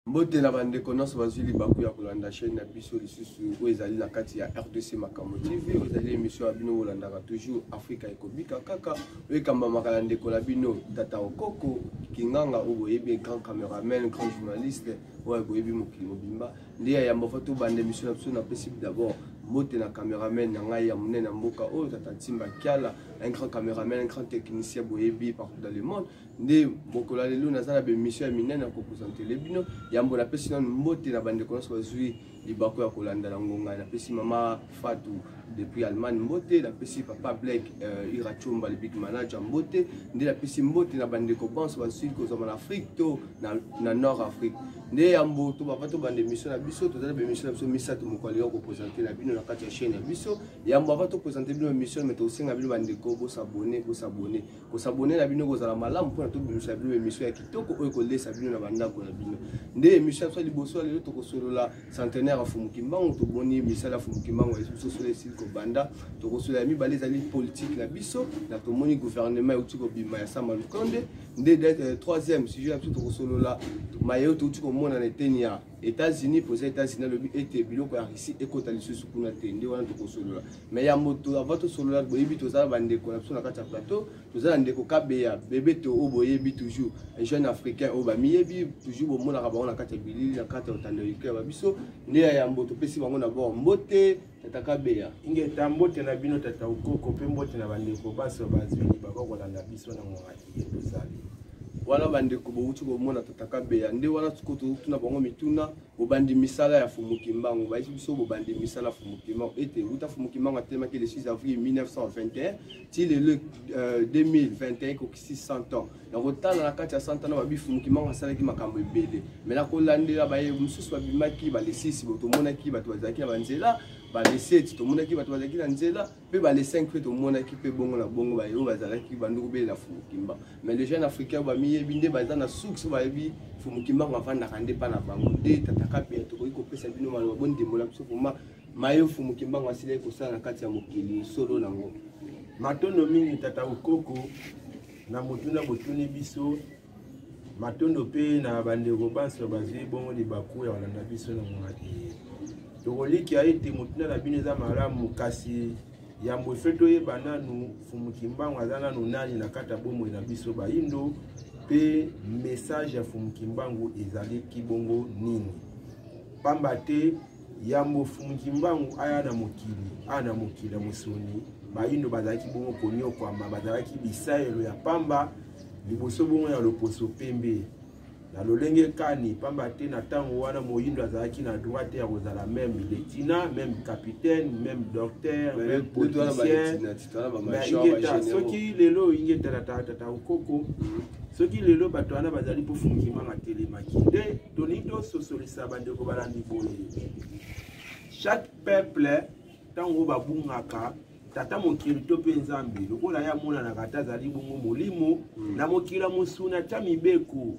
mbote na bandeko nyonso bazwi libaku ya kolanda chaîne na biso lisusu oyo ezali na kati ya rdc makambo tv oyo ezali émission ya bino bolandaka toujours afrika ekobika kaka oyo ekambamaka na ndeko na bino tata okoko kinganga oyo boyebi grand cameraman grand journaliste oyo boyebi mokili mobimba nde ya yamba fa tobanda émission na biso napesi d'abord mbote na cameraman na ngai ya monene ya mboka oyo tata ntimba kiala un grand cameraman un grand technicien boyebi partout dans le monde nde mokolo ya lelo naza na bemission ya minene ya kopresentele bino yambo napesi nano mbote na bandeko nyonso bazwi libaku ya kolanda na ngonga napesi mama fatu depuis allemagne mbote napesi papa blak uh, ira chomba le big manager mbote nde napesi mbote na bandeko banso bazwi kozwama na afrique to na, na nord afrique nde yambo tobapa tobanda emission na biso toza na bemission na biso misato moko alingi kopresente na bino na kati ya chaîne ya biso yambo ava topresente bino emission me tokosenga bino bandeko bosabone bosabone kosabone na bino ekozala malamu mpona tobimisa bino emission ya kitoko oyo ekolesa bino na bandako na bino nde emission ya biso ya liboso ya lelo tokosolola centenaire ya fumuki mbango toboni misala ya fumuki mbango biso solo esili kobanda tokosolola ya mibale ezali politike na biso na tomoni gouvernement euti kobima ya sama lukonde nde euh, troisième sujet na biso tokosolola maye oyo touti komona na eteni ya États-Unis poza États-Unis alobi ete biloko ya Russie ekota lisusu kuna te nde wana tokosolola mais ya moto avant tosolola boyebi toza na bandeko na biso na kati ya plateau toza na ndeko kabeya bebe to oyo boyebi toujours un jeune africain oyo bamiyebi toujours bomonaka bango na kati ya bilili na kati ya otando ya biso nde ya yambo topesi bango na bord mbote tata kabeya ingeta mbote na bino tata ukoko mpe mbote na bandeko baso bazwini baba kolanda biso na mongaki ye tozali wana bandeko bowuti komona tata kabeya nde wana siko totuna bango mituna bobandi misala ya fumukimbangu bayisi biso bobandi misala fumukimbangu ete wuta fumukimbangu atelemaki le 6 avril 1921 ti lelo 2021 euh, 600 ans na kotala na kati ya santa na babifumuki mango asalaki makambo ebele me na kolandela baye mosusu babimaki balesisi bo tomonaki bato bazalaki na banzela bale 7 tomonaki bato bazalaki na nzela mpe bale 5 mpe tomonaki mpe bongo na bongo baye oyo bazalaki banduku bele na fumukimba mais le jeune africain oyo bamiyebi nde baza na suks oyo bayebi fumukimba ngo afandaka nde mpa na bango nde tataka bia tokoki kopesa bino maloba bondimbola biso vraimen maye mfumu kimbangu asilaki kosala na kati ya mokili solo nango matondo mingi tata okoko na motuna botuni biso matondo mpe na bandeko banso bazwi bongo libaku ya kolanda biso na mongaki tokolikia ete motuna na bino eza malamu kasi yambo efe toyeba nanu mfumu kimbangu aza nanu nani na kati ya bomoi na biso bayindo mpe message ya mfumu kimbangu ezaliki bongo nini pamba te yambo mukimbangu aya na mokili aya na mokili ya mosuni bayindo bazalaki bongo konyokwama bazalaki bisaelo ya pamba liboso bongo ya loposo pembe na lolenge kani pamba te na ntango wana moyindo azalaki na droit te ya kozala meme lieutenant meme capitaine meme docteur meme politicien ingeta soki lelo ingeta na tata okoko mhm. soki lelo bato wana bazali mpo fungimanga telemaki nde tolingi tososolisa bandeko balandi boye chaque peuple ntango babungaka tata mokili to mpe nzambe lokola ye amonanaka ata azali bongo molimo hmm. na mokili ya mosuni atya mibeko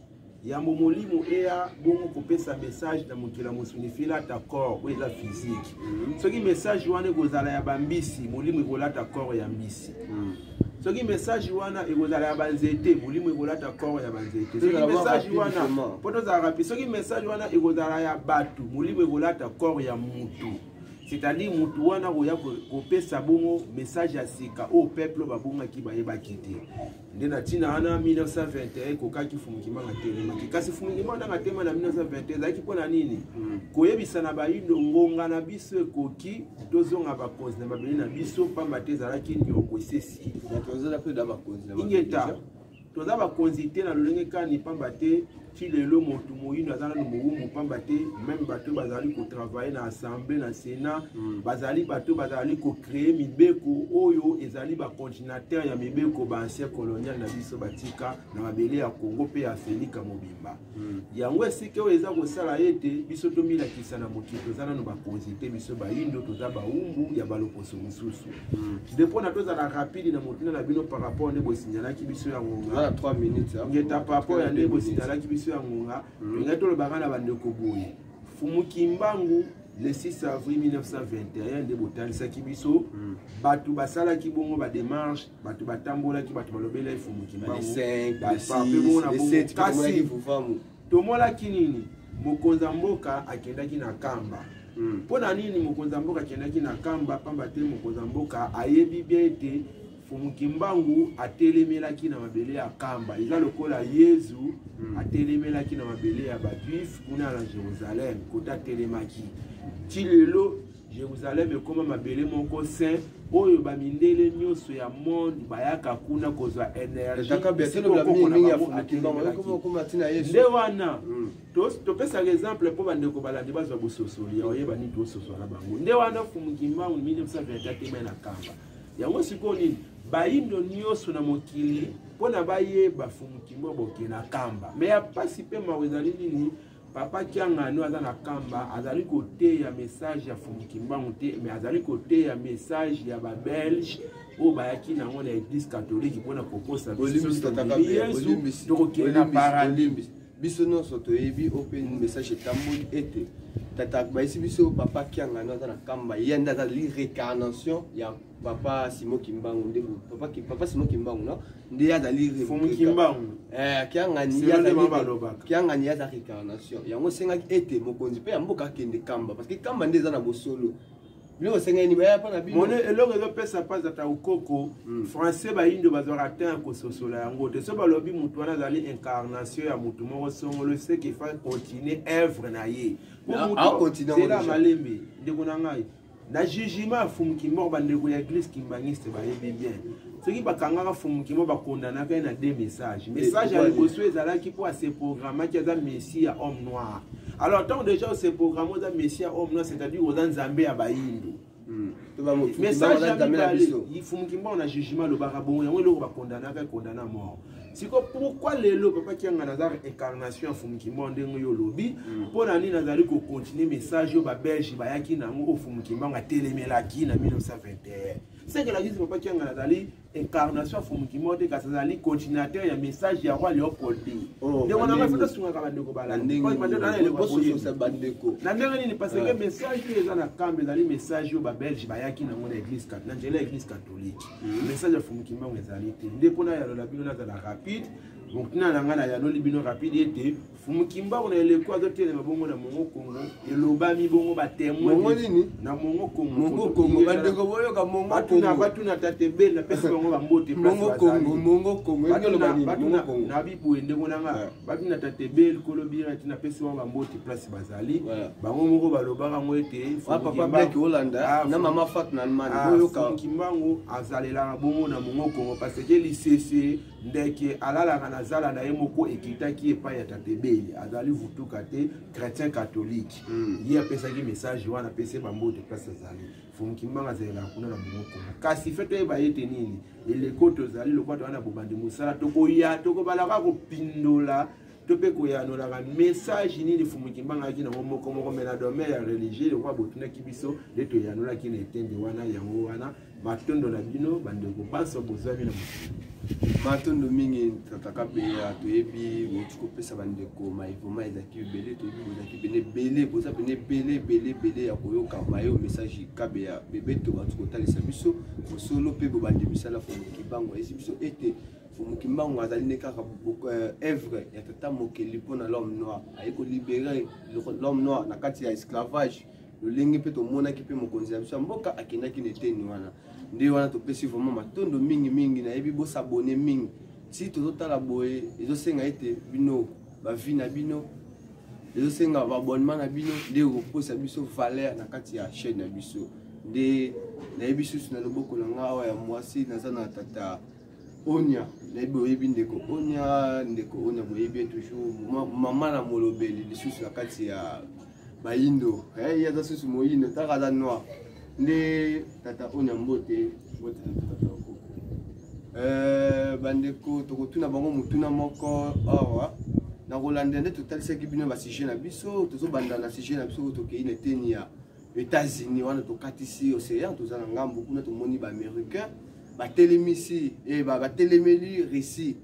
yambo molimo eya bongo kopesa message na mokili ya mosuni filata corps oyo eza physique hmm. soki message wana ekozala ya bambisi molimo ekolata corps ya mbisi hmm. soki message wana ekozala ya banzete molimo ekolata koro ya banzete soki message wana mpo tozalaka mpe soki message wana ekozala ya bato molimo ekolata koro ya motu c'est-à-dire motu wana koya kopesa bongo message ya sika oyo peuple babongaki bayebaki te nde na ntina wana 1921 ekokaki fumukimanga telemaki kasi fumukimanga ndanga tema na 1921 ezalaki mpo na nini hmm. koyebisa na bayindo ngonga na biso ekoki tozonga bakonzi na mabele na biso mpamba te ezalaki nyongo esesi ingeta toza bakonzi te na lolenge kani mpamba te ti lelo motu moyino aza nano mowumbu mpamba te meme bato oyo bazali kotravaille na assemblée na sénat mm. bazali bato bazali kocreye mibeko oyo ezali bacontinataire ya mibeko baancien colonial na biso batika na mabele ya congo mpe ya afrika mobimba Hmm. yango esika oyo eza kosala ete biso tomilakisa na mokili toza nano bakonzi te biso bayindo toza baumbu ya baloposo mosusu hmm. de mpona tozala rapide na motina na bino par rapport nde bosinyalaki biso ya ngonga ngeta par rapport ya nde bosinyalaki biso ya ngonga hmm. engai tolobaka na bandeko boye fumu kimbangu le 6 avril 1921 nde botalisaki biso bato basalaki bongo badémarche bato batambolaki bato balobela ye fumu kimbanguapebonabongokasi tomonaki nini mokonzi ya mboka akendaki na kamba hmm. mpo na nini mokonzi ya mboka akendaki na kamba mpamba te mokonzi ya mboka ayebi bien ete fumu kimbangu atelemelaki na mabele ya kamba eza lokola yezu hmm. atelemelaki na mabele ya bajuife kuna na jerusalem kote atelemaki ti lelo Jerusalem ekoma mabele moko saint oyo bamindele nyonso ya monde bayaka kuna kozwa energiende wana hmm. topesaka exemple mpo bandeko balandi bazwa bososoli ya oyeba nini tososola na bango nde wana fumukimbangu 1924 temai na kamba yango sikoyo nini bayindo nyonso na mokili mpo na bayeba fumukimbangu boke na kamba me ya mpasi mpe mawa ezali nini papa kiangani aza na kamba azali koteya message ya fumukimbangu te mais azali koteya message ya babelge oyo bayaki na yango na eglise katolike mpona kokosa yesu tokokende na paradis biso nyonso toyebi oyo mpe message etamboli ete tata bayisi biso papa kiangani aza na kamba ye nde aza lirecarnation ya papa simo kimbangu nde papa, papa simo kimbangu no nde azali eh, kiangani aza récarnation yango esengaki ete mokonzi mpe ya mboka akende kamba parce que kamba nde eza na bosolo biloko esengeli baya mpo na bimone eloko ezopesa mpasi ata okoko hmm. français bayindo bazwaka te ya kososola yango te so balobi motu wana azali incarnation ya motu moko songolo seke fa continue œuvre na ye mpo motu zela malembe ndeko na ngai na jugement ya fumukimor bandeko ya eglise kimbaniste bayebi bien soki bakangaka fumukimo bakondanaka ye na deux message message ya liboso ezalaki mpo aseprogramaki aza messi ya homme noir alors ntango déjà oseprograme oza messi ya homme noir c'est-à-dire oza nzambe ya bayindo hmm. message ya mibale fumukimor na jugement alobaka bongo yango eloko bakondanaka ekondana mort siko pourquoi lelo papa kianga naza incarnation ya fumukimba ndenge yo olobi mpo mm. na nini nazali kocontinue message oyo babelge bayaki na yango oyo fumukimbanga atelemelaki na 1921 seke lakisi papa kianga nazali incarnation ya fumukimba te kasi azali continuateur ya message ya roi leopold oh, ndeko na ngai fata asungaka bandeko balanabandeko na ndenge nini parce que ah. message oyo eza na kambe ezali message oyo babelge bayaki na yango na église na nzela ya église catholique hmm. message ya fumu kimbangu ezali te nde mpo nayalola bino nazala rapide motina na ngai nayanoli bino rapide ete fumu kimbangu na eleko azotelema bongo na mongo kongo elobami bongo batemoinmongo nini na mongo kongomongo kongo bandeko boyoka mongobatuna batuna tate bel napesi bango bambote mongo kongo mongo kongo na bibwe ndeko na ngai babina tatebe likolo bira ete napesi bango bamboti place bazali bango moko balobaka yango ete ah, na mama fat na almanifonki ah, mbangu azalelaka bongo na mongo kongo parce ke lisese ndeke alalaka na zala na ye moko ekitaki epai ya tatebeli azali vutuka te chrétien catholique hmm. ye apesaki message wana apesi bamboti place azali Mfumu Kimbangu azalaka kuna na Bongo Kongo. Kasi fe toyeba ye te nini eleko tozali lokola toza na bobandi mosala tokoya tokobalaka kopindola to mpe koyanolaka message nini Mfumu Kimbangu ayaki nango moko moko me na domaine ya religieux lokola botunaki biso nde toyanolaki na etende wana yango wana matondo na bino bandeko banso bozwami na mokili matondo mingi tata kabeya toyebi bouti kopesa bandeko maevoma ezalaki ebele toyebi bozalaki pene ebele boza pene ebele ebele ebele ya koyoka mayo message kabeya bebeto bauti kotalisa biso mosolo mpe bobandi misala fondoki bango ayesi biso ete moki mbango azali nde kaka œuvre euh, ya tata mokeli mpo na l'homme noir aye kolibere l'homme noir na kati ya esclavage lolenge mpe tomonaki mpe mokonzi ya biso ya mboka akendaki na eteni wana nde wana topesi vraiment matondo mingi mingi nayebi bosabone mingi si tozotala boye ezosenga ete bino bavi na bino ezosenga baabonnement na bino nde ekokosa biso valeur na kati ya chaîne na biso nde nayebi susu na loboko na ngai awa ya mwasi naza na tata onia nayebi oyebi ndeko onia ndeko onia boyebi ye toujours mama na molobeli lisusu na kati ya bayindo eh, ye aza susu moyindo taka aza noir nde tata onya mbote mbote na tata okoko eh, bandeko tokotuna bango motuna moko awa na kolandela nde totalisaki bino basujet na biso tozobanda na sujet na biso oyo tokei na eteni ya états-unis wana tokatisi océan toza na ngambo kuna tomoni baaméricain batelemisi eh, batelemeli russie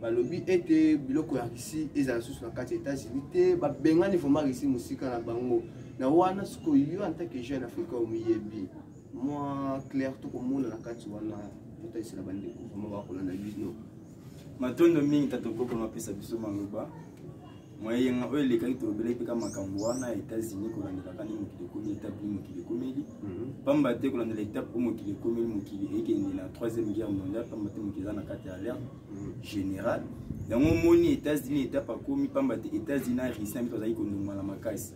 balobi ete biloko ya russie ezala susu na kati ya états-unis te babengani vraiment russie mosika na bango na wana sikoyo yo en tant que jeune africain omiyebi mwa claire tokomona na kati wana totaisela bandeko vraimen bakolanda bino matondo mingi tata okoko mapesa biso maloba moyenga oyo elekaki tolobelaki mpe ka makambo wana ya états-unis kolandelaka nde mokili ekomi etape ni mokili ekomeli mhm. pamba te kolandela etape oyo mokili ekomeli mokili ekende na troisième guerre mondiale pamba te mokili eza na kati ya alerte mhm. générale yango omoni états-unis etape akomi pamba te états-unis na russie na biso bazalaki kondongana makasi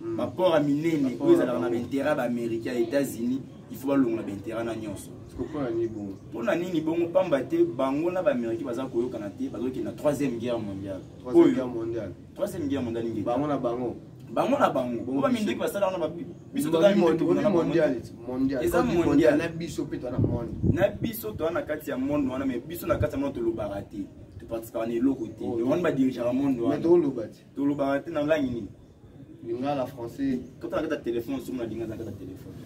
hmm. baport ya minene oyo ezalaka na bainteret ya baaméricain ya états-unis il faut balongola bainteret na nyonso mpo na nini bongo mpamba te bango na baaméricain baza koyokana te bazokende na troisième guerre mondiale troisième guerre mondiale nini bango na bango bango na bango po baminduki basala wana biso eza mondial na biso mpe toana monde na biso toa na kati ya monde wana mais biso na kati ya monde tolobaka te toparticipaka na eloko te oh, yango wana badirigeaka monde wana tolobaka te na langi nini lingala français kota na kati ya telefone soki nalinga na kati ya telefone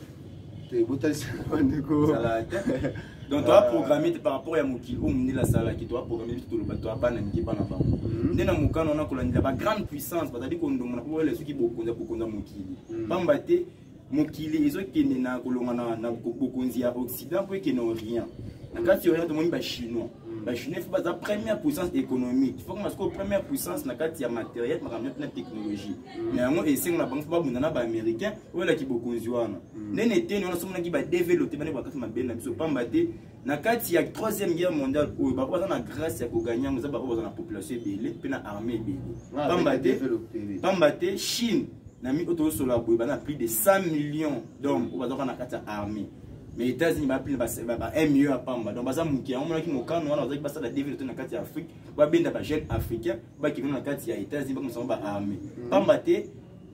donc toa programme te par rapport ya mokili oyo mondele asalaki toa programme biso toloba toa bana mike bana bango mhm. nde na mokano wana kolandela bagrande puissance bazali kondongana mpo balela soki bokonzi ya kokonza mokili mhm. pamba te mokili ezokende na kolongana na bokonzi ya occident mpo ekende orient na kati ya orient tomoni bachinois bachinois fo baza première puissance économique fo koma sikoyo première puissance na kati ya matériel makambo nyonso na technologie na yango esengo na bango fo babunda na baaméricain oyo elaki bokonzi wana nene eteni wana somonaki badevelote bane bakati mabele na biso pamba te na kati ya troisième guerre mondiale oyo bango baza na grâce ya koganye yango eza bango baza na population ebele mpe na armée ebele ah, pamba te pamba te chine na mi oyo tozosola boye baza na plus de 100 millions d'hommes oyo bazaka na kati ya armée mais états-unis bapli ba 1 million ya pamba donc baza moke yango monaki mokano wana bazalaki basala develope na kati ya afrique babenda bajeune africain bakende na kati ya états-unis bakomisango ba armée mm. pamba te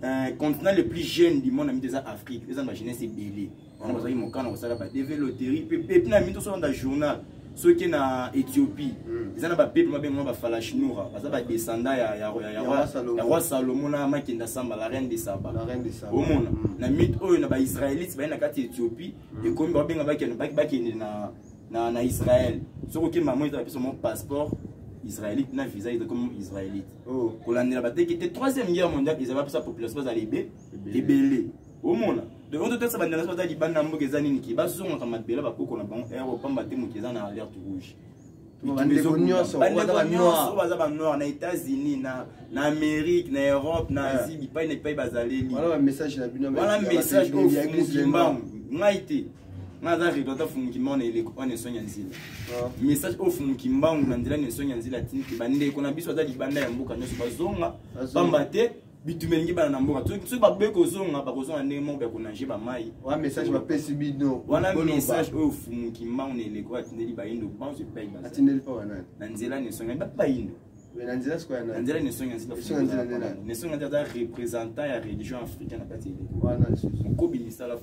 euh, continent le plus jeune du monde na mito eza afrique eza na bajeunesse ebele bango bazalaki mokano kosala badeve loterie mpe pepe na mito solanda journal soki na ethiopie hmm. eza na bapepe babengama bafalashinura baza badescenda ya roi salomo na makenda samba la reine de saba omona hmm. na mite oyo na baisraélite baye na kati ya ethiopie hmm. ekomi babenga bakende na israel soki okende mamo eza bapesa mo passeport israélite na visa eza comme israélite oh. kolandela bateki te troisième guerre mondiale ezala bapesa population bazala ebele omona donc totasa bandeko nyonso baza libanda ya mboka eza nini ke bazongaka mabele bakoko na bango ero pamba te moto eza na alerte rouge bandeko nyonso baza banoir na états-unis na amérique na europe na eh. asie bipai na bipai bazaleli wana message oyo fungukimbangu ngai te ngai aza redo ata fungukimbangu na eleko wana esongi ya nzela ah. message oyo fungukimbangu na nzela na esongi ya nzela atindi te bandeko na biso aza libanda ya mboka nyonso bazonga pamba te bitumeli ngi bana na mboka soki baboyi kozonga bakozonga ndenge moko ya konage bamai wana message bapesi bino wana message oyo fumuki mbango na eleko oyo atindeli bayindo banso epai atindeli mpo banani na nzela nesonga bato bayindo na nzela sikoyo na nzela nesonga nesonga nzela aza représentant ya religion africaine na kati ya eleko wana mokobi misala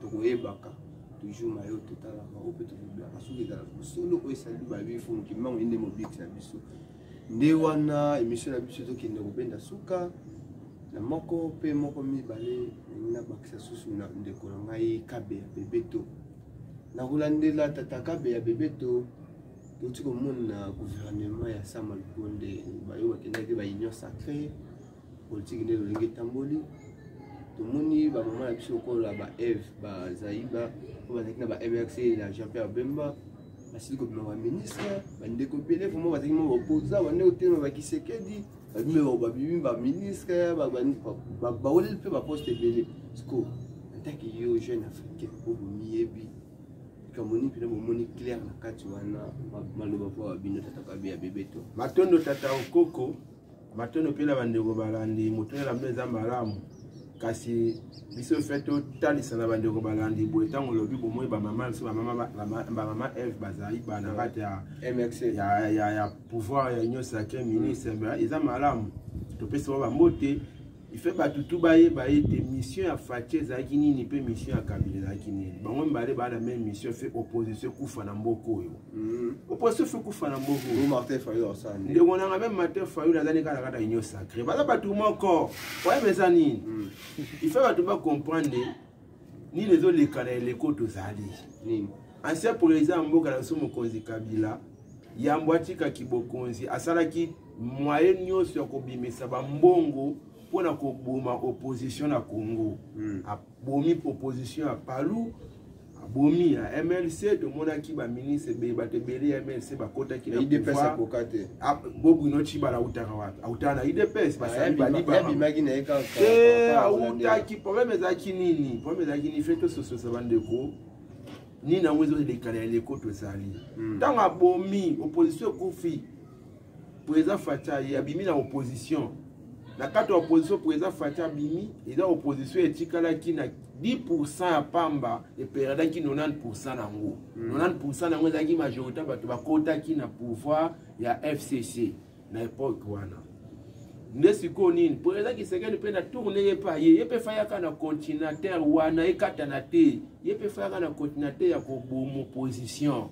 tokoyebaka toujours na yo totalaka oyo mpe tokobilaka soki ezalaka bosolo oyo esali babifo mokimbango ende mobikisi na biso nde wana émission na biso ezokende kobenda suka na moko mpe moko mibale ndenge nabakisa susu na ndeko na ngai kabe ya bebeto nakolandela tata kabe ya bebeto touti komona gouvernement ya sama lukonde bayo bakendaki baunion sacrée politiki nde lolenge etamboli tomoni bamama na biso lokola ba eve bazaiba oyo bazalaki na ba mrc na jean pierre bemba basili kobima baministre bandeko ebele vraimen bazalaki ma baopoza bandeko telema bakisekedi babimi babimi baministre baweleli mpe baposte ebele siko antaki yo jeune africain oyo bomiyebi likambo nini mpena bomoni claire na kati wana maloba mpo babino tata kabe ya bebeto matondo tata okoko matondo mpe na bandeko balandi moto elamba eza malamu kasi biso fe totalisa na bandeko balandi boye ntango olobi bomoi bamama biso bamama eve bazali bana kati ya mx ya pouvoir ya union sacre ministre eza malamu topesi bango bambote ife bato tu bayeba ete mission ya faci ezalaki nini mpe mission ya kabila ezalaki nini bango mibale baa na meme mission fe opposition ekufa na mboka oyo mm. opposition fe ekufa na mboka oyo ndeko nanga meme martin fayul aza ne kaka kaka union sacré baza bato moko oyeba eza nini mm. ife bato bacomprendre nini ezoleka na eleko tozali nini ancien président ya mboka na biso mokonzi kabila yambo atikaki bokonzi asalaki moye nyonso ya kobimisa bambongo mpo na koboma opposition na congo hmm. abomi opposition ya palu abomi ya mlc tomonaki baministre ebele bato ebele ya mlc bakotaki na pouvoir Ah, bobu no chibala autaka wapi autaka na udps basali balibabimaki na ye kaka eh, autaki probleme ezalaki nini probleme ezalaki nini fe tosososa bandeko nini yango ezolekana ya leko tozali hmm. ntango abomi opposition ekufi président facha ye abimi na opposition na kati ya opposition mpo eza fati abimi eza opposition etikalaki na 10 ya pamba eperedaki 90 na yango 90 hmm. na yango ezalaki majorité bato bakotaki na pouvoir ya fcc na epoke wana nde sikoyo nini mpo eza kisekeli mpe na tourne ye mpe aye ye mpe fayaka na continateur wana ekatana te ye mpe fayaka na continateur ya kobomo position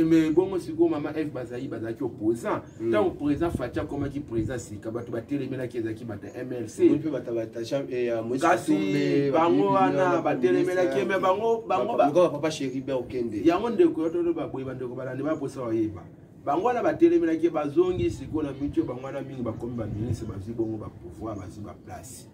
mais bongo sikoyo mama eve bazali bazalaki opposant ntango hmm. président faci akomaki président sika bato batelemelaki ezalaki bato ya mlckasi eh, bango wana batelemelaki me bangookende yango ndeko yototo baboye bandeko balandi baposa bayeba bango wana batelemelaki bazongi sikoyo na mitio bango wana mingi bakomi baministre bazwi bongo bapouvoir bazwi baplace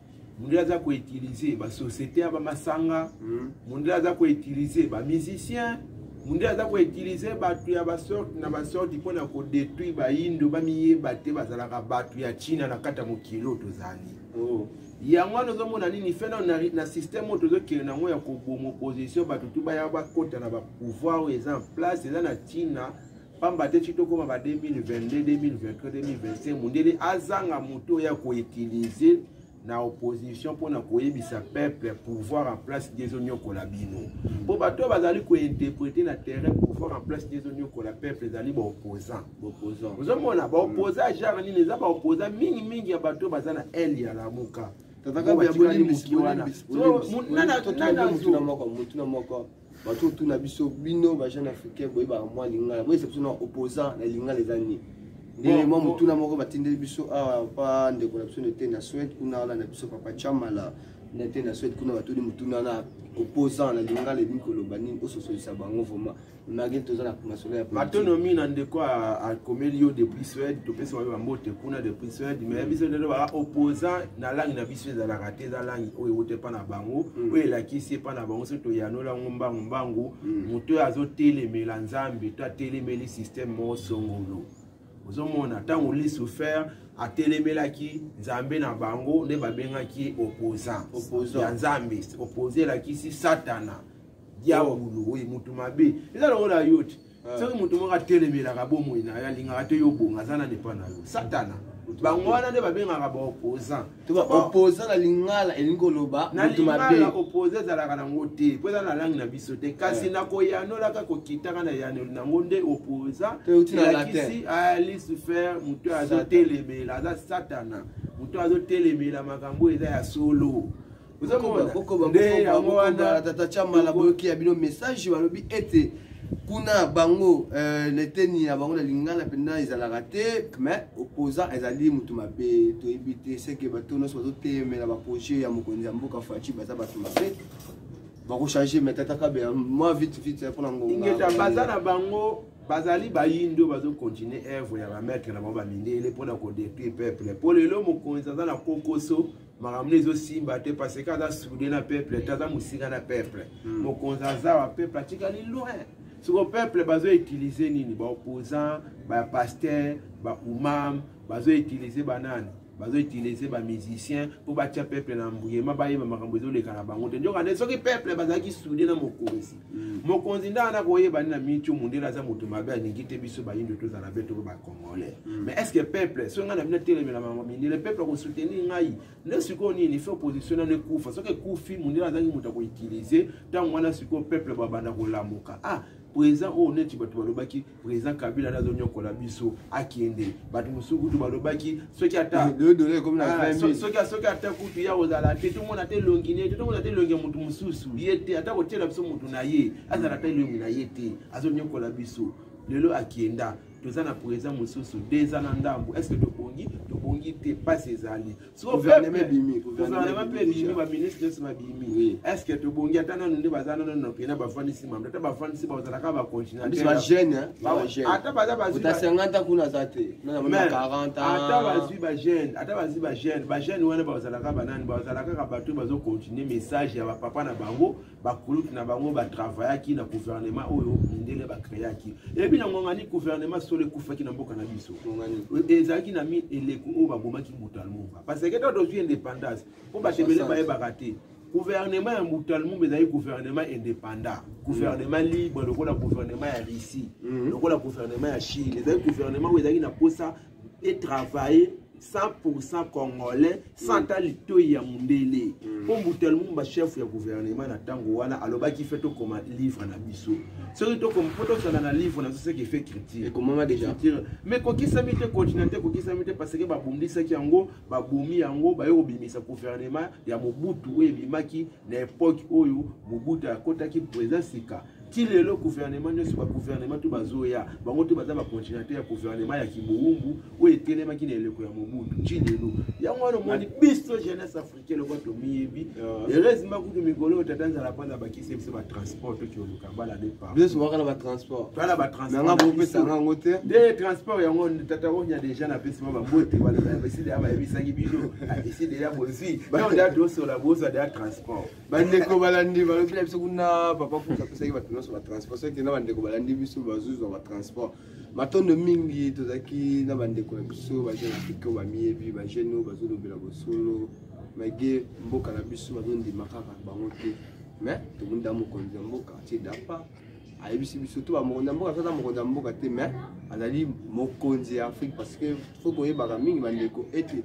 mondele aza koutilize basociété ya bamasanga hmm. mondele aza koutilize bamusicien mondele aza koutilize bato ya basorte na basorte mpo na kodetruire bayindo bamiyeba te bazalaka bato ya china na kati ya mokili oyo tozali oh. yango wana ozomona nini fe nano na systeme oyo tozokende na yango ya koboma opposition bato tu baya bakota na bapouvoir oyo eza en place eza na china pamba te ti tokóma ba 2022 2023 2025 mondele azanga moto oyo ya koutilize na opposition mpo na koyebisa peuple pouvoir en place nde ezonyokola bino mpo bato oyo bazali kointerprete na terrain pouvoir en place nde ezonyokola peuple ezali baopposant ozomona baopposant genre nini eza baopposant mingimingi ya bato oyo baza na aile ya lamuka bato otuna biso bino ba jeune africain boyebaka mwa lingala boyesa biso na opposant na lingala eza nini ndenge mwa motuna moko batindeli biso awa ah, pa ndeko na biso nete na swede kuna wana na biso papa chamala nete na swede kuna batuni motuna wana opposant na lingala ebimi koloba nini ososolisa bango vraimen malgré toza na masolo ya batonomi na ndeko akomeli yo depuis swede topesi bayo bambote kuna depuis swede mais biso ndelo ba opposant na langue na biso ezalaka te eza langi oyo ewuta epa na bango mm. oyo elakisi epa na bango soki toyanola yango mbangu mbangu mm. moto oyo azotelemela nzambe to atelemeli systeme moko songolo ozomona ntango lucifer atelemelaki nzambe na bango nde babengaki ye opposant ya nzambe oppose elakisi satana diabulu oyo motu mabe eza lokola yo te ah. soki moto moko atelemelaka bomoi na yo alingaka te yo obonga aza na depa na yo satana bango wana nde babengaka baopposant to baopposant na lingala elingi koloba na lingala opposant ezalaka nango te mpo eza na langi na biso te kasi eh. na koyanolaka kokitaka na yanoli nango nde opposant elakisi alisufer moto azotelemela aza satana moto azotelemela makambo eza ya solo nde yango wana tata chamala boyoki ya bino message balobi ete kuna bango euh, na eteni ya bango na lingala mpenza ezalaka te mais opposant ezali moto mabe toyebi te seke bato nyonso bazotemela baprojet ya mokonzi ya mboka faci baza bato mabe bakochange mais tata kabe mwa vite vite mpo na ngonga baza na bango bazali bayindo bazokontinue œuvre ya bamaître na bango bamindele mpo na kodetruire peuple mpo lelo mokonzi aza na kokoso makambo ezosimba te parce que aza soude na peuple te aza mosika na peuple hmm. mokonzi aza wa peuple atikali loin soko peuple bazoutilize nini baopposant bapaster baumam bazoutilize banani bazoutilize bamusicien mpo batya peuple na mbuyema bayeba makambo ezoleka na bango te nzoka nde soki peuple bazalaki soude na mokonzi Mm. mokonzi nde ana koyeba nini na miniti oyo mondele aza moto mabe alingi te biso bayindo tozala be toko bacongolais mm. mais est ce que peuple soki ngai na bino etelemela bango mindele peuple akosoutenir ngai nde sikoyo nini fe opposition nano ekufa soki ekufi mondele azangi moto akoutilize ntango wana sikoyo peuple babanda kolamuka ah président oyo neti bato balobaki président kabila nde azonyokola biso akende bato mosusu kutu balobaki soki atasoki ah, ata kutu ya kozala te tomona te elongi ne te tomona te elongi ya moto mosusu ye te ata kotyela biso moto na ye azala ata elongi na ye te azonyokola biso lelo akenda toza na président mosusu deux ans na ndambo est ce que tobongi tobongi te mpasi ezali gouvernement mpe elimi baministre nyonso babimi estce tobongi ata nano nde baza nano na mpena bafandisi mamdo ata bafandisi bazalaka bacontinenteata baza bazwi bajeune ata bazwi bajeune bajeune wana bazalaka banani bazalaka kaka bato bazocontinue message ya bapapa na bango bakulutu na bango batravayaki na guvernema oyo mindele bakreaki eyebi na ngongani guvernema solo ekufaki na mboka na biso e, ezalaki na mi eleko oyo babomaki mutalmumba parce que to tozwi indépendance mpo bato ebele bayebaka te guvernema ya mutalmumba ezali guvernema indépendant guvernema mm. libre lokola guvernema ya russie mm. lokola guvernema ya chine ezali guvernema oyo ezalaki na mposa e travailler 100% congolais sans ata litoi ya mondele mpo mbuta lumumba chef ya gouvernement na ntango wana alobaki fe tokoma livre na biso soki tokoma mpo tozala na livre na biso soki efe critique ekomama déjà mais kokisami te continue te kokisami te parce que babundisaki yango babomi yango baye kobimisa gouvernement ya mobutu oyo ebimaki na epoque oyo mobutu akotaki président sika ti lelo guvernema nyonso baguvernema to bazoya bango to baza bacontinate ya guvernema ya kibowumbu oyo etelemaki na eleko ya mobutu ti lelo yango wana omoni biso jeunesse africain lokola tomiyebi heureusement ah. kutu mikolo oyo tata nzala kwanza bakisi biso batransport to kioluka bala de par biso waka na batransport tala batransportnanga bopesa ngango te nde transport yango tata onya deja napesi mwa babote balobeside ya bayebisaki bino eside ya bozwi nda tosola bozwa deya transport bandeko balandi balobi na biso kuna papa kutu apesaki bato nyonso batransport soki te na bandeko balandi biso bazozwa batransport matondo mingi tozalaki na bandeko na biso bajeune afrika oyo bamiyebi bajeune oyo bazolobela bosolo mage mboka na biso bazondima kaka bango te mais tobunda mokonzi ya mboka tie dapa ayebisi biso to bamokonzi ya mboka tata mokonzi ya mboka te mais azali mokonzi ya afrique parce que fo koyebaka mingi bandeko ete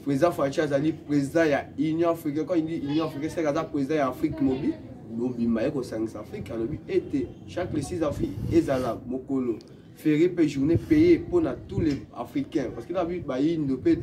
Président Fatshi azali président ya Union africaine. Quand il dit Union africaine, c'est aza président ya Afrique mobile. Mobimba ye kosangisa Afrique alobi ete chaque le 6 avril ezala mokolo férié mpe journée payé mpo na tous les africains parce que nabi bayindo mpe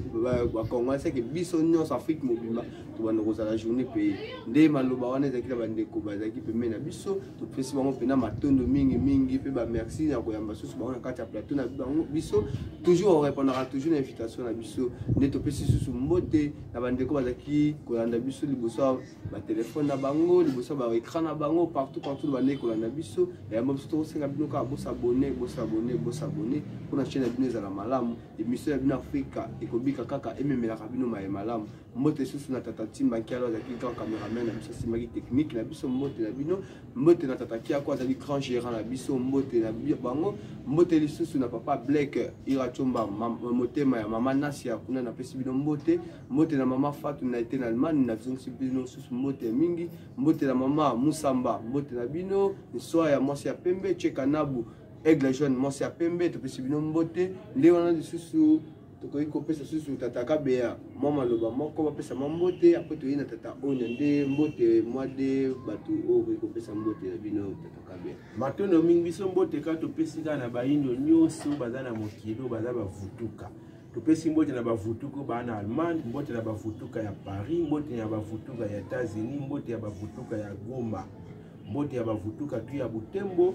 bacongolais seke biso nyonso afrique mobimba tobanda kozala journée payé nde maloba wana ezalaki na bandeko bazalaki pembeni na biso topesi bango mpena matondo mingi mingi mpe bamerci ya koyamba susu bango na kati ya plateau na bango biso toujours orepondaka toujours na invitation na biso nde topesi susu mbote na bandeko bazalaki kolanda biso liboso ya batelefone na bango liboso ya baecran na bango partout partout bandeki kolanda biso yayamba biso tokosenga bino kaka bosabone bosabone bosabone mpo na chaine ya bino ezala malamu emission ya bino afrika ekobika kaka ememelaka bino maye malamu mbote lisusu na tata timba nkialo azalaki grand cameraman na biso asimbaki technique na biso mbote na bino mbote na tata kiako azali grand gérant na biso mbote na bango mbote lisusu na papa blek iracomba motema ya mama nasi ya kuna napesi bino mbote mbote na mama fatu na ete na allemagne nazongisi bino lisusu mbote mingi mbote na mama musamba mbote na bino nswa ya mwasi ya pembe chekanabu aigle jaune mwasi ya pembe topesi bino mbote nde wana lisusu tokoki kopesa susu tata kabeya mwa maloba moko bapesa mwa mbote apres toyei na tata onya nde mbote mwa de bato oyo okoki kopesa mbote na bino tata kabeya matondo mingi biso mbote kaka topesi kaka na bayindo nyonso baza na mokili oyo baza bavutuka topesi mbote na bavutuka oyo baa na allemagne mbote na bavutuka ya paris mbote na bavutuka ya etats-unis mbote ya bavutuka ya goma mbote ya bavutuka tu ya butembo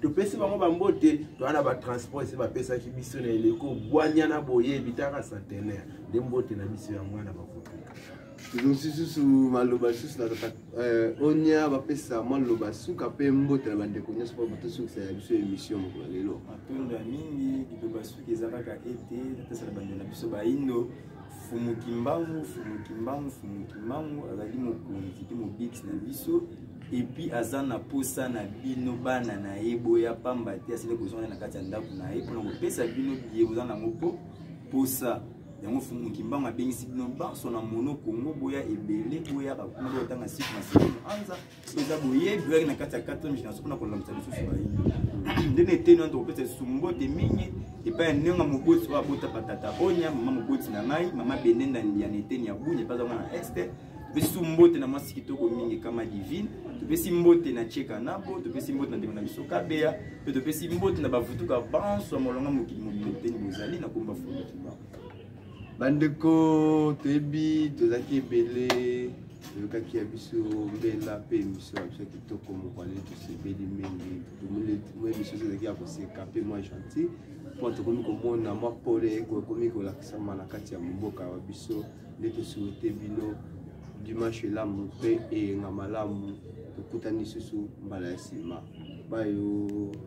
topesi bango bambote toa na batransport ese bapesaki biso na eleko bwanya na boye bitaka centenaire nde mbote na biso ya mwana bakotuka tozongisi susu maloba lisusu na euh, onia bapesa mwa loba suka mpe mbote na bandeko nyonso mpo batosukisa ya biso emission moko na lelo matondo ya mingi liloba suki eza kaka ete napesa na bandeko na biso baindo Fumu Kimbangu, Fumu Kimbangu, Fumu Kimbangu azali mokonzi te mobikisi na biso epuis aza na posa na bino bana na ye boya pamba te asili kozonga na kati ya ndako na ye mpona kopesa bino biye boza nango mpo posa yango Fumu Kimbangu abengisi bino banso na mono Kongo boya ebele boyaka kuna botanga site na site anza eza boye greg na kati ya 4 génération mpona kolamisa lisusu baye nde na eteni wana tokopesa lisusu mbote mingi epai ya ndenge moboti oyo abota patata onya mama moboti na ngai mama benenda ya na eteni ya bunya epai azango na este topesi mbote na mwasi kitoko mingi kama divine topesi mbote na cheka nabo topesi mbote na ndeko na biso kabeya mpe topesi mbote na bavutuka banso ya molonga mokili mobimba eteni bozali na komba fondaki bango bandeko toyebi tozalaki ebele toyokaki ya biso mbela mpe emission ya biso ya kitoko moko ale tosebeli mingi tomoni emission ezalaki ya koseka mpe mwa gentil mpo tokomi komona mwa pole ekomi kolakisama na kati ya mboka wa biso nde tosuete bino dimanche elamu mpe eyenga malamu tokutani lisusu mbala ya nsima bayo